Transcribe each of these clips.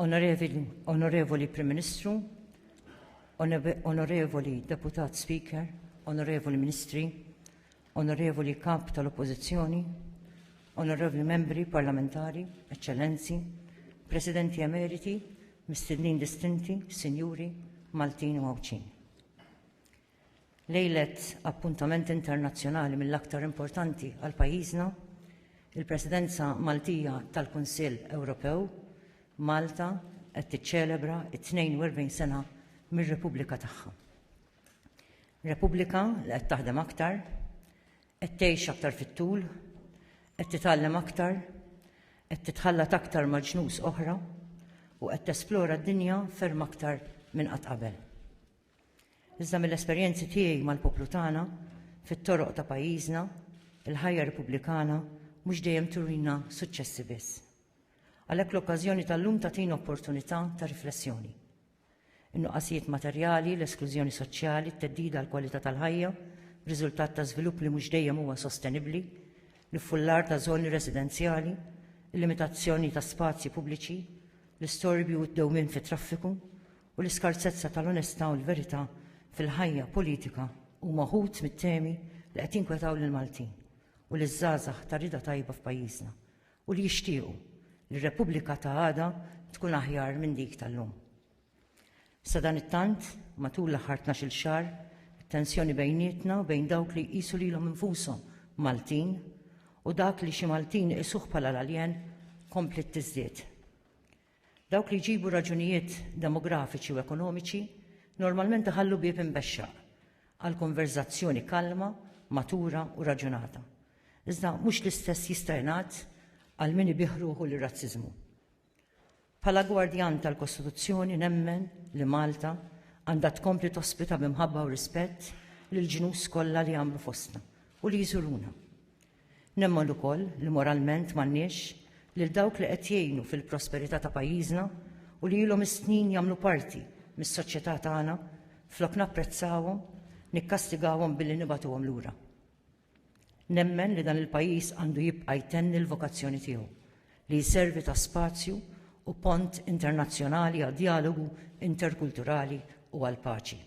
Onorevoli Prim Ministru, Onorevoli Deputat Speaker, Onorevoli Ministri, Onorevoli Kap tal-Oppożizzjoni, Onorevoli Membri Parlamentari, Eċċellenzi, Presidenti Emeriti, Mistednin Distinti, Sinjuri, Maltin u Għawdxin. Lejlet appuntament internazzjonali mill-aktar importanti għal pajjiżna, il-Presidenza Maltija tal-Kunsill Ewropew, Malta qed tiċċelebra t-42 sena mir-Repubblika tagħha. Repubblika li qed taħdem aktar, qed tgħix aktar fit-tul, qed titgħallem aktar, qed titħallat aktar ma' ġnus oħra u qed tesplora d-dinja ferm aktar minn qatt qabel. Iżda mill-esperjenzi tiegħi mal-poplu tagħna, fit-toroq ta' pajjiżna, il-ħajja Repubblikana mhux dejjem turina suċċessi biss. Għalhekk l-okkażjoni tal-lum tagħtina opportunità ta' riflessjoni. In-nuqqasijiet materjali, l-esklużjoni soċjali, t-theddida għall-kwalità tal-ħajja, riżultat ta' żvilupp li mhux dejjem huwa sostenibbli, l-iffullar ta' żoni residenzjali, il-limitazzjoni ta' spazji pubbliċi, l-istorbju u d-dewmien fit-traffiku, u l-iskarsezza tal-onestà u l-verità fil-ħajja politika huma wħud mit-temi li qed jinkwetaw lill-Maltin u liż-żgħażagħ ta' rieda tajba f'pajjiżna u li jixtiequ li r-Repubblika ta' għada tkun aħjar minn dik tal-lum. Sadanittant, matul l-aħħar tnax-il xahar, it-tensjoni bejnietna u bejn dawk li jqisu lilhom infushom Maltin u dak li xi Maltin iqisuh bħala l-aljen kompliet tiżdied. Dawk li jġibu raġunijiet demografiċi u ekonomiċi normalment iħallu bieb imbexxaq għal konverżazzjoni kalma, matura u raġunata. Iżda mhux l-istess jista' jingħad għal min ibih ruħu lir-razziżmu. Bħala gwardjan tal-Kostituzzjoni nemmen li Malta għandha tkompli tospita b'imħabba u rispett lill-ġnus kollha li jagħmlu fostna u li jżuruna. Nemmen ukoll li moralment m'għandniex, lil dawk li qed jgħinu fil-prosperità ta' pajjiżna u li ilhom is-snin jagħmlu parti mis-soċjetà tagħna, flok napprezzawhom, nikkastigawhom billi nibagħtuhom lura. Nemmen li dan il-pajjiż għandu jibqa' jtenni l-vokazzjoni tiegħu, li jservi ta' spazju u pont internazzjonali għad-djalogu interkulturali u għall-paċi.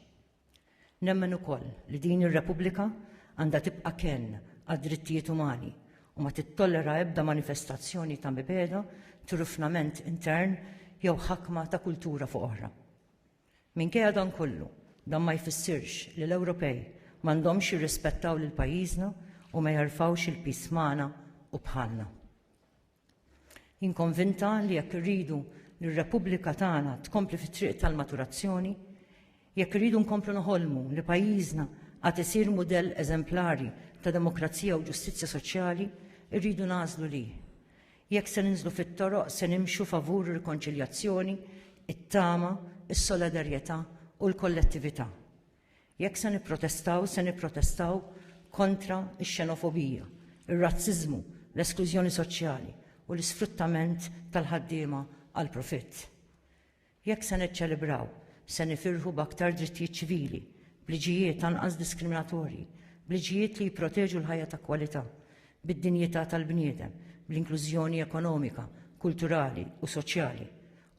Nemmen ukoll li din ir-Repubblika għandha tibqa' kenn għad-drittijiet umani u ma tittollera ebda manifestazzjoni ta' mibegħda, trufnament intern jew ħakma ta' kultura fuq oħra. Minkejja dan kollu, dan ma jfissirx li l-Ewropej m'għandhomx jirrispettaw lil pajjiżna u ma jerfgħux il-piż magħna u bħalna. Jien konvinta li jekk irridu li r-Repubblika tagħna tkompli fit-triq tal-maturazzjoni, jekk irridu nkomplu noħolmu li pajjiżna għad isir mudell eżemplari ta' demokrazija u ġustizzja soċjali, irridu nagħżlu li, jekk se ninżlu fit-toroq, se nimxu favur ir-rikonċiljazzjoni, it-tama, is-solidarjetà u l-kollettività. Jekk se nipprotestaw, se nipprotestaw kontra x-xenofobija, ir-razziżmu, l-esklużjoni soċjali u l-isfruttament tal-ħaddiema għall-profitt. Jekk se niċċelebraw, se nifirħu b'aktar drittijiet ċivili, b'liġijiet anqas diskriminatorji, b'liġijiet li jipproteġu l-ħajja ta' kwalità, bid-dinjità tal-bniedem, bl-inklużjoni ekonomika, kulturali u soċjali,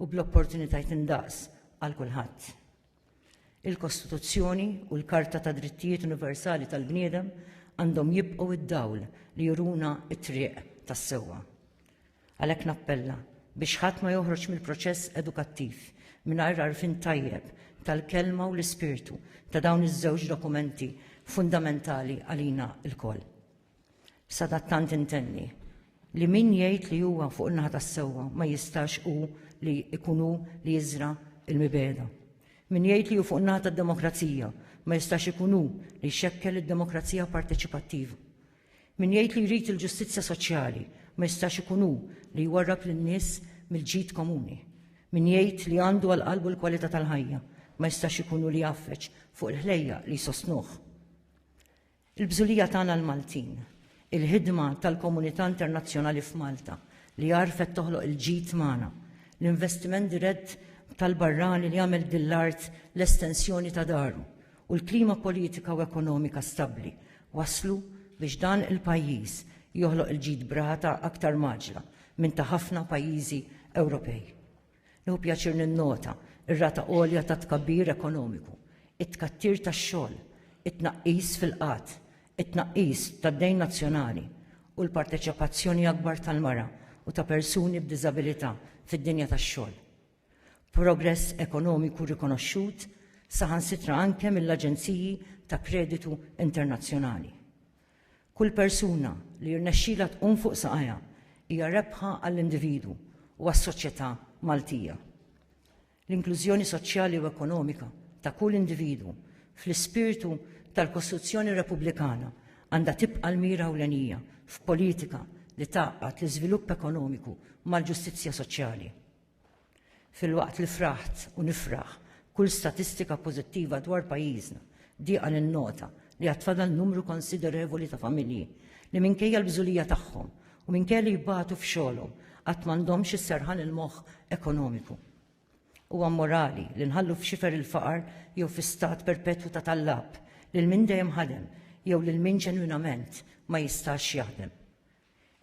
u bl-opportunitajiet indaqs għal kulħadd. Il-Kostituzzjoni u l-Karta ta' Drittijiet Universali tal-Bniedem għandhom jibqgħu id-dawl li juruna t-triq tas-sewwa. Għalhekk nappella biex ħadd ma joħroġ mill-proċess edukattiv mingħajr għarfien tajjeb tal-kelma u l-ispirtu ta' dawn iż-żewġ dokumenti fundamentali għalina lkoll. Sadattant intenni li min jgħid li huwa fuq in-naħa tas-sewwa ma jistax hu li jkun hu li jiżra l-mibeda. Min jgħid li hu fuq in-naħa tad-demokrazija ma jistax ikun hu li jxekkel id-demokrazija parteċipattiva. Min jgħid li jrid il-ġustizzja soċjali ma jistax ikun hu li jwarrab lin-nies mill-ġid komuni. Min jgħid li għandu għal qalbu l-kwalità tal-ħajja ma jistax ikun hu li jafreġ fuq il-ħlejja li jsostnuh. Il-bżulija tagħna l-Maltin, il-ħidma tal-komunità internazzjonali f'Malta li għarfet toħloq il-ġid magħna, l-investiment dirett tal-barrani li għamel din l-art l-estensjoni ta' daru, u l-klima politika u ekonomika stabbli wasslu biex dan il-pajjiż joħloq il-ġid b'rata aktar mgħaġġla minn ta' ħafna pajjiżi Ewropej. Nieħu pjaċir ninnota r-rata għolja ta' tkabbir ekonomiku, it-tkattir tax-xogħol, it-tnaqqis fil-qgħad, it-tnaqqis tad-dejn nazzjonali u l-parteċipazzjoni akbar tal-mara u ta' persuni b'diżabilità fid-dinja tax-xogħol. Progress ekonomiku rikonoxxut saħansitra anke mill-aġenziji ta' kreditu internazzjonali. Kull persuna li jirnexxilha tqum fuq saqajha hija rebħa għall-individwu u għas-soċjetà Maltija. L-inklużjoni soċjali u ekonomika ta' kull individwu fl-ispirtu tal-Kostituzzjoni Repubblikana għandha tibqa' l-mira ewlenija f'politika li tgħaqqad l-iżvilupp ekonomiku mal-ġustizzja soċjali. Filwaqt li fraħt u nifraħ kull statistika pożittiva dwar pajjiżna, dieqa ninnota li għad fadal numru konsiderevoli ta' familji li minkejja l-bżulija tagħhom u minkejja li jbatu f'xogħolhom qatt m'għandhomx is-serħan il-moħħ ekonomiku. Huwa mmorali li nħallu f'xifer il-faqar jew fi stat perpetwu ta' tallab lil min dejjem ħadem jew lil min ġenwinament ma jistax jaħdem.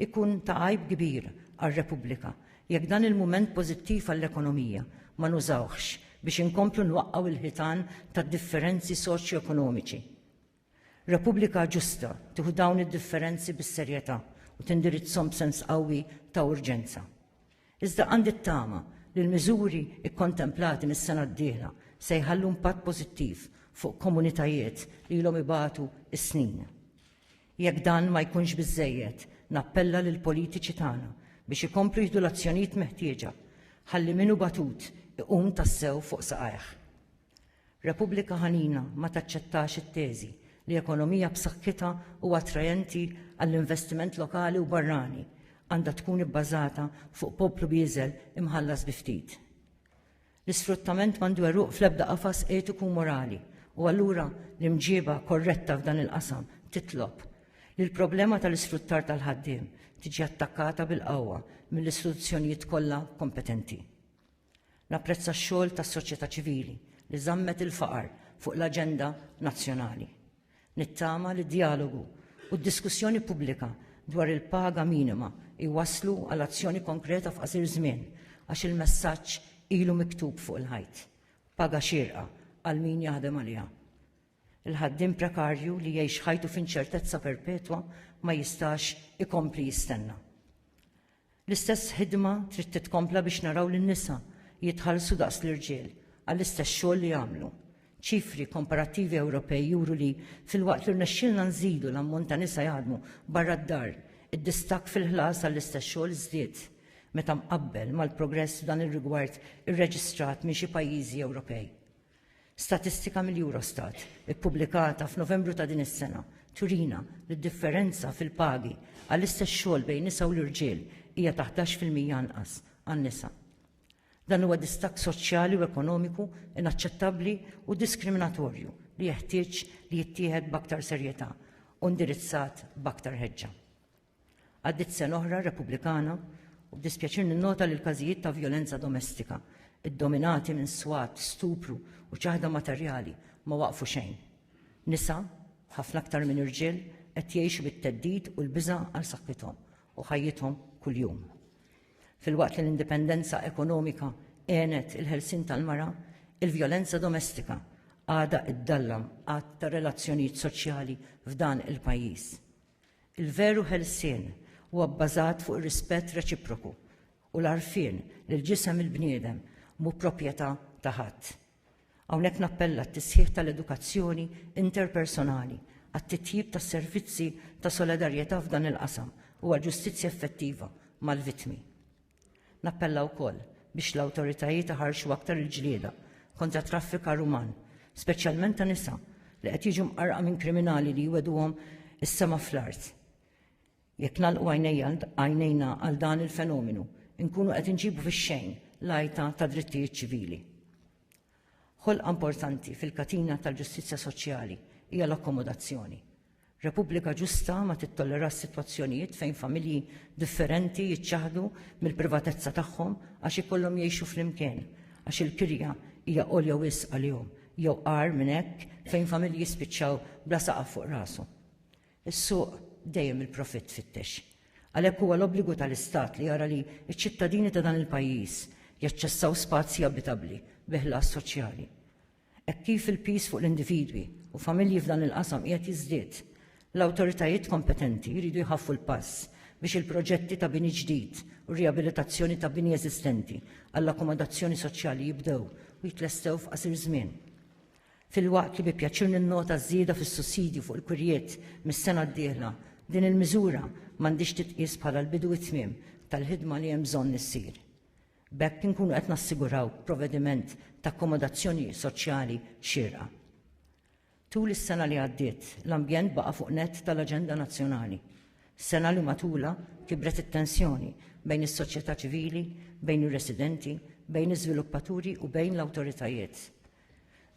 Ikun ta' għajb kbir għar-Repubblika jekk dan il-mument pożittiv għall-ekonomija ma nużawhx biex inkomplu nwaqqgħu il-ħitan tad-differenzi soċjoekonomiċi. Repubblika ġusta tieħu dawn id-differenzi bis-serjetà u tindirizzhom b'sens qawwi ta' urġenza. Iżda għandi t-tama li l-miżuri kkontemplati mis-sena d-dieħla se jħallu impatt pożittiv fuq komunitajiet li ilhom ibatu s-snin. Jekk dan ma jkunx biżżejjed, nappella lill-politiċi tagħna biex ikomplu jieħdu l-azzjonijiet meħtieġa ħalli min hu batut iqum tassew fuq saqajh. Repubblika ħanina ma taċċettax it-teżi li ekonomija b'saħħitha u attrajenti għall-investiment lokali u barrani għandha tkun ibbażata fuq poplu bieżel imħallas bi ftit. L-isfruttament m'għandu għeruq fl-ebda qafas etiku u morali u allura l-imġieba korretta f'dan il-qasam titlob li l-problema tal-isfruttar tal-ħaddiem tiġi attakkata bil-qawwa mill-istituzzjonijiet kollha kompetenti. Napprezza x-xogħol tas-soċjetà ċivili li żammet il-faqar fuq l-aġenda nazzjonali. Nittama li d-djalogu u d-diskussjoni pubblika dwar il-paga minima jwasslu għal azzjoni konkreta f'qasir żmien għax il-messaġġ ilu miktub fuq il-ħajt, paga xierqa għal min jaħdem għaliha. Il-ħaddiem prekarju li jgħix ħajtu f'inċertezza perpetwa ma jistax ikompli jistenna. L-istess ħidma trid titkompla biex naraw lin-nisa jitħallsu daqs l-irġiel għall-istess xogħol li jagħmlu. Ċifri komparattivi Ewropej juru li, filwaqt li rnexxielna nżidu l-ammont ta' nisa jaħdmu barra d-dar, id-distakk fil-ħlas għall-istess xogħol żdied meta mqabbel mal-progress f'dan ir-rigward irreġistrat minn xi pajjiżi Ewropej. Statistika mill-Eurostat, ippubblikata f'Novembru ta' din is-sena, turina li d-differenza fil-pagi għall-istess xogħol bejn nisa u l-irġiel hija ta' 11 fil-mija anqas għan-nisa. Dan huwa distakk soċjali u ekonomiku inaċċettabbli u diskriminatorju li jeħtieġ li jittieħed b'aktar serjetà u indirizzat b'aktar ħeġġa. Għaddiet sena oħra Repubblikana u b'dispjaċir ninnota li l-każijiet ta' vjolenza domestika, iddominati minn swat, stupru u ċaħda materjali, ma waqfu xejn. Nisa, ħafna aktar minn irġiel, qed jgħixu bit-theddid u l-biża' għal saħħithom u ħajjithom kuljum. Filwaqt li l-indipendenza ekonomika għenet il-ħelsien tal-mara, il-vjolenza domestika għadha ddallam għadd ta' relazzjonijiet soċjali f'dan il-pajjiż. Il-veru ħelsien huwa bbażat fuq ir-rispett reċiproku u l-għarfien li l-ġisem il-bniedem mhu proprjetà ta' ħadd. Hawnhekk nappella għat-tisħiħ tal-edukazzjoni interpersonali, għat-titjib tas-servizzi ta' solidarjetà f'dan il-qasam u għal ġustizzja effettiva mal-vittmi. Nappella wkoll biex l-awtoritajiet iħarrxu aktar il-ġlieda kontra t-traffikar uman, speċjalment ta' nisa li qed jiġu mqarrqa minn kriminali li jwegħduhom is-sema fl-art. Jekk nagħlqu għajnejna għal dan il-fenomenu, inkunu qed inġibu fix-xejn l-għajta tad-drittijiet ċivili. Ħolqa importanti fil-katina tal-ġustizzja soċjali hija l-akkomodazzjoni. Repubblika ġusta ma tittollerax sitwazzjonijiet fejn familji differenti jiċċaħdu mill-privatezza tagħhom għax ikollhom jgħixu flimkien għax il-kirja hija għolja wisq għalihom jew agħar minn hekk fejn familji jispiċċaw bla saqaf fuq rashom. Is-suq dejjem il-profitt tfittex. Għalhekk huwa l-obbligu tal-Istat li jara li ċ-ċittadini ta' dan il-pajjiż jaċċessaw spazji abitabbli bi ħlas soċjali. Hekk kif il-piż fuq l-individwi u familji f'dan il-qasam qiegħed jiżdied, l-awtoritajiet kompetenti jridu jħaffu l-pass biex il-proġetti ta' bini ġdid u rijabilitazzjoni ta' bini eżistenti għall-akkomodazzjoni soċjali jibdew u jitlestew f'qasir żmien. Filwaqt li bi pjaċir ninnota ż-żieda fis-sussidju fuq il-kwirjiet mis-sena d-dieħla, din il-miżura m'għandhiex titqies bħala l-bidu u t-tmiem tal-ħidma li hemm bżonn issir. B'hekk inkunu qed nassiguraw provvediment ta' akkomodazzjoni soċjali xierqa. Tul is-sena li għaddiet, l-ambjent baqa' fuq nett tal-aġenda nazzjonali. Sena li matulha kibret it-tensjoni bejn is-soċjetà ċivili, bejn ir-residenti, bejn iż-żviluppaturi u bejn l-awtoritajiet.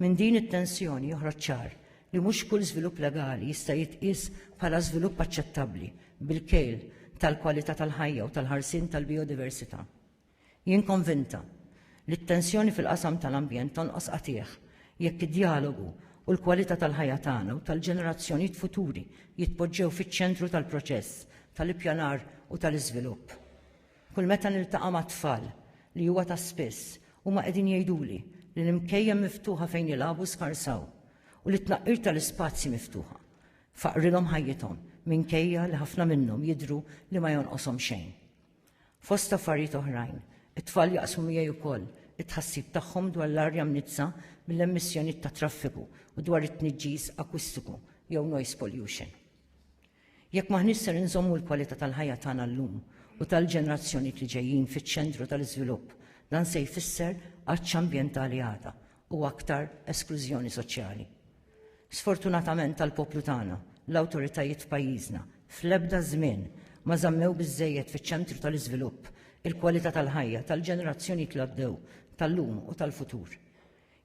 Minn din it-tensjoni joħroġ ċar li mhux kull żvilupp legali jista' jitqies bħala żvilupp aċċettabbli bil-kejl tal-kwalità tal-ħajja u tal-ħarsien tal-bijodiversità. Jien konvinta li t-tensjoni fil-qasam tal-ambjent tonqos qatiegħ jekk id-djalogu u l-kwalità tal-ħajja tagħna u tal-ġenerazzjonijiet futuri jitpoġġew fiċ-ċentru tal-proċess tal-ippjanar u tal-iżvilupp. Kull meta niltaqa' ma' tfal, li huwa ta' spiss, huma qegħdin jgħiduli li l-imkejjen miftuħa fejn jilagħbu skarsaw u li t-tnaqqir tal-ispazji miftuħa faqqrilhom ħajjithom minkejja li ħafna minnhom jidhru li ma jonqoshom xejn. Fost affarijiet oħrajn, it-tfal jaqsmu miegħi wkoll it-tħassib tagħhom dwar l-arja mniġġsa mill-emissjonijiet tat-traffiku u dwar it-tniġġis akustiku jew noise pollution. Jekk m'aħniex ser inżommu l-kwalità tal-ħajja tagħna llum u tal-ġenerazzjonijiet li ġejjin fiċ-ċentru tal-iżvilupp, dan se jfisser għatx ambjentali għada u aktar esklużjoni soċjali. Sfortunatament għall-poplu tagħna, l-awtoritajiet f'pajjiżna fl-ebda żmien ma żammew biżżejjed fiċ-ċentru tal-iżvilupp il-kwalità tal-ħajja tal-ġenerazzjonijiet li għaddew, tal-lum u tal-futur.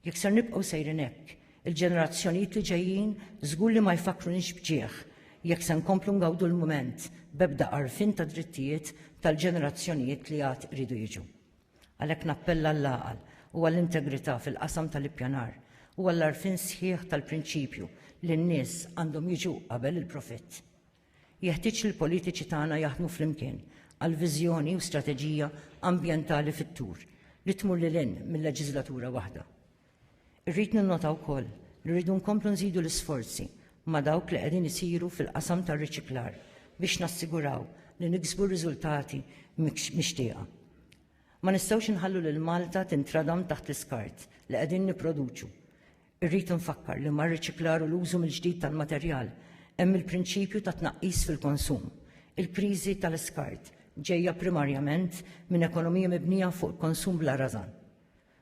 Jekk ser nibqgħu sejrin hekk, il-ġenerazzjonijiet li ġejjin żgur li ma jfakkrunix b'ġieħ jekk se nkomplu ngawdu l-mument b'ebda għarfien tad-drittijiet tal-ġenerazzjonijiet li għad iridu jiġu. Għalhekk nappella għall-għaqal u għall-integrità fil-qasam tal-ippjanar u għall-għarfien sħiħ tal-prinċipju li n-nies għandhom jiġu qabel il-profitt. Jeħtieġ li l-politiċi tagħna jaħdmu flimkien għal viżjoni u strateġija ambjentali fit-tul li tmur lil hinn mil-leġiżlatura waħda. Irrid ninnota wkoll li rridu nkomplu nżidu l-isforzi ma' dawk li qegħdin isiru fil-qasam tar-riċiklar biex nassiguraw li niksbu r-riżultati mixtieqa. Ma nistgħux inħallu lil Malta tintradam taħt l-iskart li qegħdin nipproduċu Irrid infakkar li mar-riċiklar u l-użu mill-ġdid tal-materjal hemm il-prinċipju ta' tnaqqis fil-konsum. Il-kriżi tal-iskart ġejja primarjament minn ekonomija mibnija fuq il-konsum bla rażan.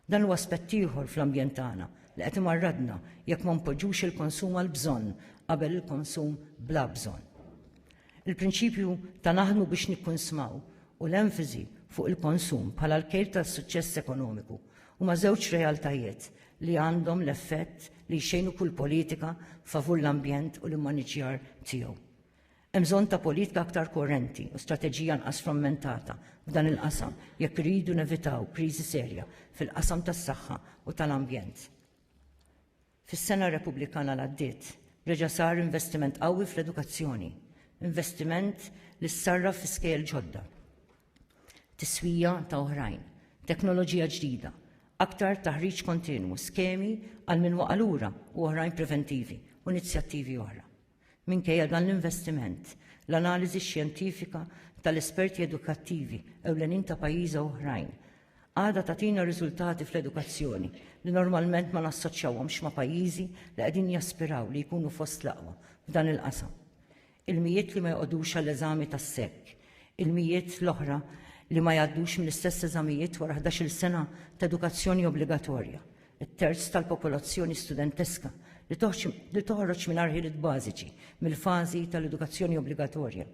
Dan huwa aspett ieħor fl-ambjent tagħna li qed imarradna jekk ma npoġġux il-konsum għall-bżonn qabel il-konsum bla bżonn. Il-prinċipju ta' naħdmu biex nikkunsmaw u l-emfasi fuq il-konsum bħala l-kejl tas-suċċess ekonomiku huma żewġ realtajiet li għandhom l-effett li jxejnu kull politika favur l-ambjent u l-immaniġjar tiegħu. Hemm bżonn ta' politika aktar korrenti u strateġija nqas frammentata f'dan il-qasam jekk iridu nevitaw kriżi serja fil-qasam tas-saħħa u tal-ambjent. Fis-sena Repubblikana l-għaddiet reġa' sar investiment qawwi fl-edukazzjoni, investiment li ssarraf fi skejjel ġodda. tiswija ta' oħrajn, teknoloġija ġdida, aktar taħriġ kontinwu, skemi għal min waqa' lura u oħrajn preventivi u inizjattivi oħra. Minkejja dan l-investiment, l-analiżi xjentifika tal-esperti edukattivi ewlenin ta' pajjiża oħrajn għada tatina riżultati fl-edukazzjoni li normalment ma nassoċjawhomx ma' pajjiżi li qegħdin jaspiraw li jkunu fost l-aqwa f'dan il-qasam. ilmijiet li ma joqogħdux għall-eżami tas-SEC, ilmijiet l-oħra li ma jgħaddux mill-istess eżamijiet wara ħdax-il sena ta' edukazzjoni obbligatorja, it-terz tal-popolazzjoni studenteska li toħroġ mingħajr ħiliet bażiċi mill-fażi tal-edukazzjoni obbligatorja,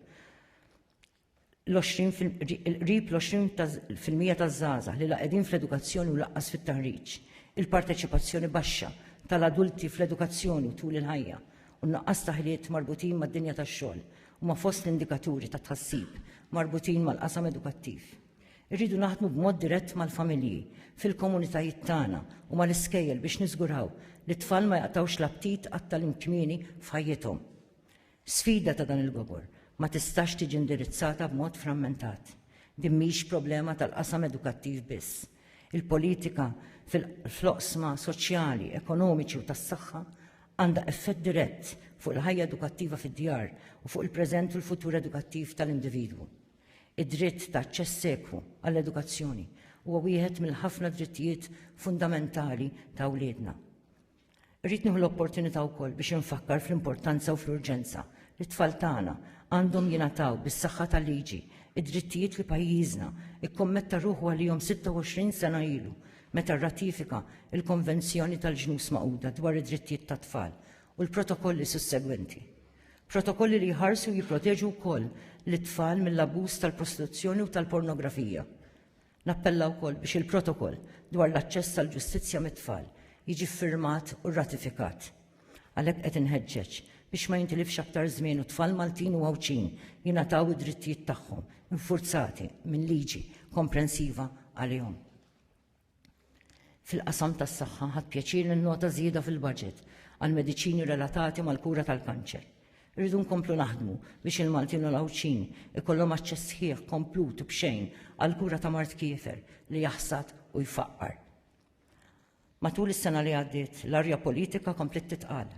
l-qrib l-20 fil-mija taż-żgħażagħ li la qegħdin fl-edukazzjoni u lanqas fit-taħriġ, il-parteċipazzjoni baxxa tal-adulti fl-edukazzjoni u tul il-ħajja, u n-nuqqas ta' ħiliet marbutin mad-dinja tax-xogħol huma fost l-indikaturi ta' tħassib marbutin mal-qasam edukattiv. Irridu naħdmu b'mod dirett mal-familji, fil-komunitajiet tagħna u mal-iskejjel biex niżguraw li t-tfal ma jaqtgħux l-aptit għat-tagħlim kmieni f'ħajjithom. Sfida ta' dan il-gobor ma tistax tiġi indirizzata b'mod frammentat. Din mhix problema tal-qasam edukattiv biss. Il-politika fl-oqsma soċjali, ekonomiċi u tas-saħħa għandha effett dirett fuq il-ħajja edukattiva fid-djar u fuq il-preżent u l-futur edukattiv tal-individwu. Id-dritt ta' aċċess ekwu għall-edukazzjoni huwa wieħed mill-ħafna drittijiet fundamentali ta' wliedna. Irrid nieħu l-opportunità wkoll biex infakkar fl-importanza u fl-urġenza li t-tfal tagħna għandhom jingħataw bis-saħħa tal-liġi d-drittijiet li pajjiżna kkommetta ruħu għalihom 26 sena ilu meta rratifika l-Konvenzjoni tal-Ġnus Magħquda dwar id-Drittijiet tat-Tfal u l-protokolli sussegwenti. Protokolli li jħarsu u jipproteġu wkoll lit-tfal mill-abbuż tal-prostituzzjoni u tal-pornografija. Nappella wkoll biex il-Protokoll dwar l-aċċess għall-ġustizzja mit-tfal jiġi ffirmat u rratifikat. Għalhekk qed inħeġġeġ biex ma jintilifx aktar żmien u t-tfal Maltin u Għawdxin jingħataw id-drittijiet tagħhom infurzati minn liġi komprensiva għalihom. Fil-qasam tas-saħħa ħadt pjaċir ninnota żieda fil-baġit għall-mediċini relatati mal-kura tal-kanċer. Irridu nkomplu naħdmu biex il-Maltin u l-Għawdxin ikollhom aċċess sħiħ, komplut u b'xejn għall-kura ta' mard kiefer li jaħsad u jfaqqar. Matul is-sena li għaddiet, l-arja politika kompliet titqal.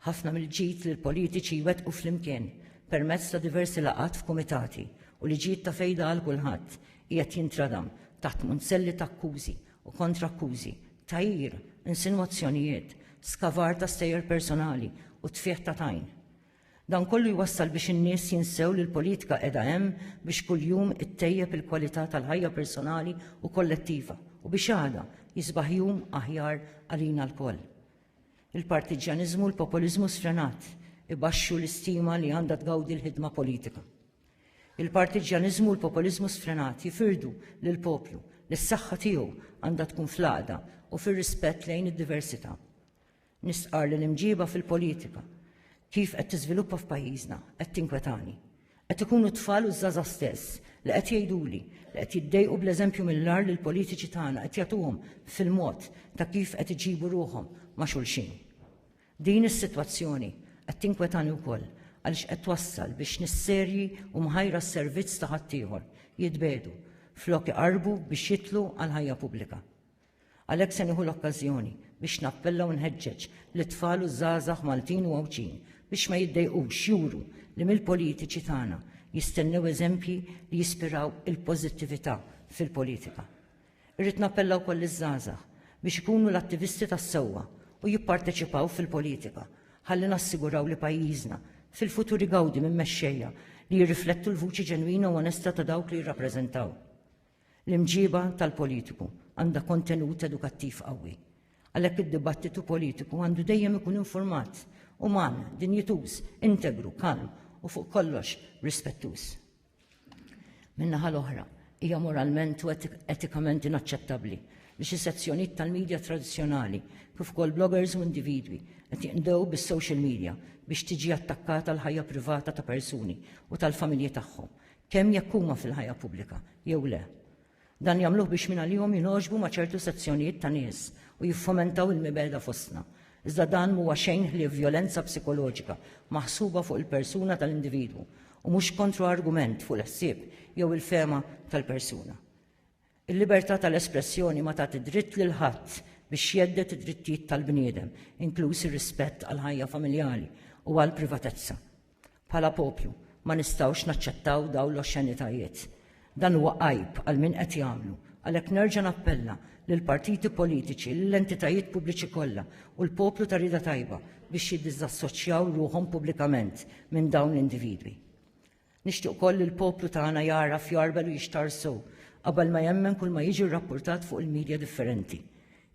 Ħafna mill-ġid li l-politiċi jwettqu flimkien permezz ta' diversi laqgħat f'kumitati u li ġid ta' fejda għal kulħadd qiegħed jintradam taħt munzelli ta' akkużi u kontra-akkużi, tgħajjir, insinwazzjonijiet, skavar ta' stejjer personali u tfigħ ta' tajn. Dan kollu jwassal biex in-nies jinsew li l-politika qiegħda hemm biex kuljum ittejjeb il-kwalità tal-ħajja personali u kollettiva u biex għada jisbaħ jum aħjar għalina lkoll. Il-partiġġjaniżmu u l-populiżmu sfrenat ibaxxu l-istima li għandha tgawdi l-ħidma politika. Il-partiġġjaniżmu u l-populiżmu sfrenat jifirdu lill-poplu li s-saħħa tiegħu għandha tkun fl-għaqda u fir-rispett lejn id-diversità. Nistqarr li l-imġiba fil-politika kif qed tiżviluppa f'pajjiżna qed tinkwetani. Qed ikunu t-tfal u ż-żgħażagħ stess li qed jgħiduli li qed jiddejqu bl-eżempju mill-agħar li l-politiċi tagħna qed jagħtuhom fil-mod ta' kif qed iġibu ruħhom ma' xulxin. Din is-sitwazzjoni qed tinkwetani wkoll għaliex qed twassal biex nies serji u mħajra s-servizz ta' ħaddieħor jitbiegħdu flok iqarrbu biex jidħlu għall-ħajja pubblika. Għalhekk se nieħu l-okkażjoni biex nappella u nħeġġeġ lit-tfal u ż-żgħażagħ Maltin u Għawdxin biex ma jiddejqux juru li mill-politiċi tagħna jistennew eżempji li jispiraw il-pożittività fil-politika. Irrid nappella wkoll liż-żgħażagħ biex ikunu l-attivisti tas-sewwa u jipparteċipaw fil-politika ħalli nassiguraw li pajjiżna fil-futur igawdi minn mexxejja li jirriflettu l-vuċi ġenwina u onesta ta' dawk li jirrappreżentaw. L-imġiba tal-politiku għandha kontenut edukattiv qawwi. Għalhekk id-dibattitu politiku għandu dejjem ikun infurmat, uman, dinjituż, integru, kalm u fuq kollox rispettuż. Min-naħa l-oħra, hija moralment u etikament inaċċettabbli li xi sezzjonijiet tal-media tradizzjonali kif ukoll bloggers u individwi qed jinqdew bis-social media biex tiġi attakkata l-ħajja privata ta' persuni u tal-familji tagħhom kemm jekk huma fil-ħajja pubblika jew le. Dan jagħmluh biex mingħalihom jingħoġbu ma' ċertu sezzjonijiet ta' nies u jiffomentaw il-mibegħda fostna. Iżda dan m'huwa xejn ħlief vjolenza psikoloġika maħsuba fuq il-persuna tal-individwu u mhux kontroargument fuq il-ħsieb jew il-fehma tal-persuna. Il-libertà tal-espressjoni ma tagħti dritt lil ħadd biex jhedded id-drittijiet tal-bniedem, inkluż ir-rispett għall-ħajja familjali u għall-privatezza. Bħala poplu, ma nistgħux naċċettaw dawn l-oxxenitajiet. Dan huwa għajb għal min qed jagħmlu, għalhekk nerġa' nappella lill-partiti politiċi, lill-entitajiet pubbliċi kollha u l-poplu ta' rieda tajba biex jiddiżassoċjaw ruħhom pubblikament minn dawn l-individwi. Nixtieq ukoll li l-poplu tagħna jagħraf, jgħarbel u jixtarr sew qabel ma jemmen kull ma jiġi rrappurtat fuq il-midja differenti.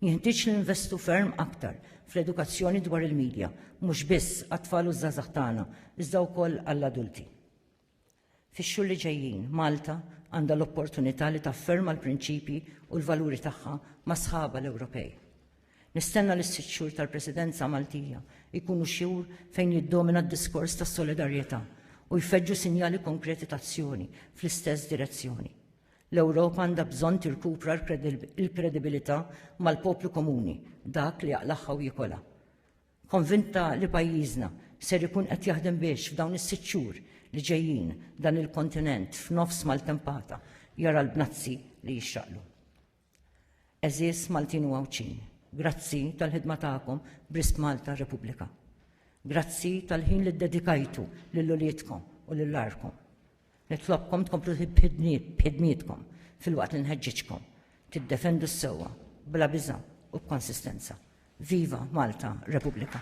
Jenħtieġ li ninvestu ferm aktar fl-edukazzjoni dwar il-midja, mhux biss għat-tfal u ż-żgħażagħ tagħna, iżda wkoll għall-adulti. Fix-xhur li ġejjin, Malta għandha l-opportunità li tafferma l-prinċipji u l-valuri tagħha ma' sħabha l-Ewropej. Nistenna li s-sitt xhur tal-Presidenza Maltija jkunu xhur fejn jiddomina d-diskors ta' solidarjetà u jfeġġu sinjali konkreti ta' azzjoni fl-istess direzzjoni. L-Ewropa għandha bżonn tirkupra l-kredibilità mal-poplu komuni, dak li jaqlagħha u jikolha. Konvinta li pajjiżna ser ikun qed jaħdem biex f'dawn is-sitt xhur li ġejjin dan il-kontinent f'nofs maltempata jara l-bnazzi li jixraqlu. Għeżież Maltin u Għawdxin, grazzi tal-ħidma tagħkom b'risq Malta Repubblika. Grazzi tal-ħin li ddedikajtu lil uliedkom u lil għarkom. Nitlobkom tkomplu b'ħidmietkom filwaqt li nħeġġiġkom tiddefendu s-sewwa bla biża' u b'konsistenza. Viva Malta Repubblika!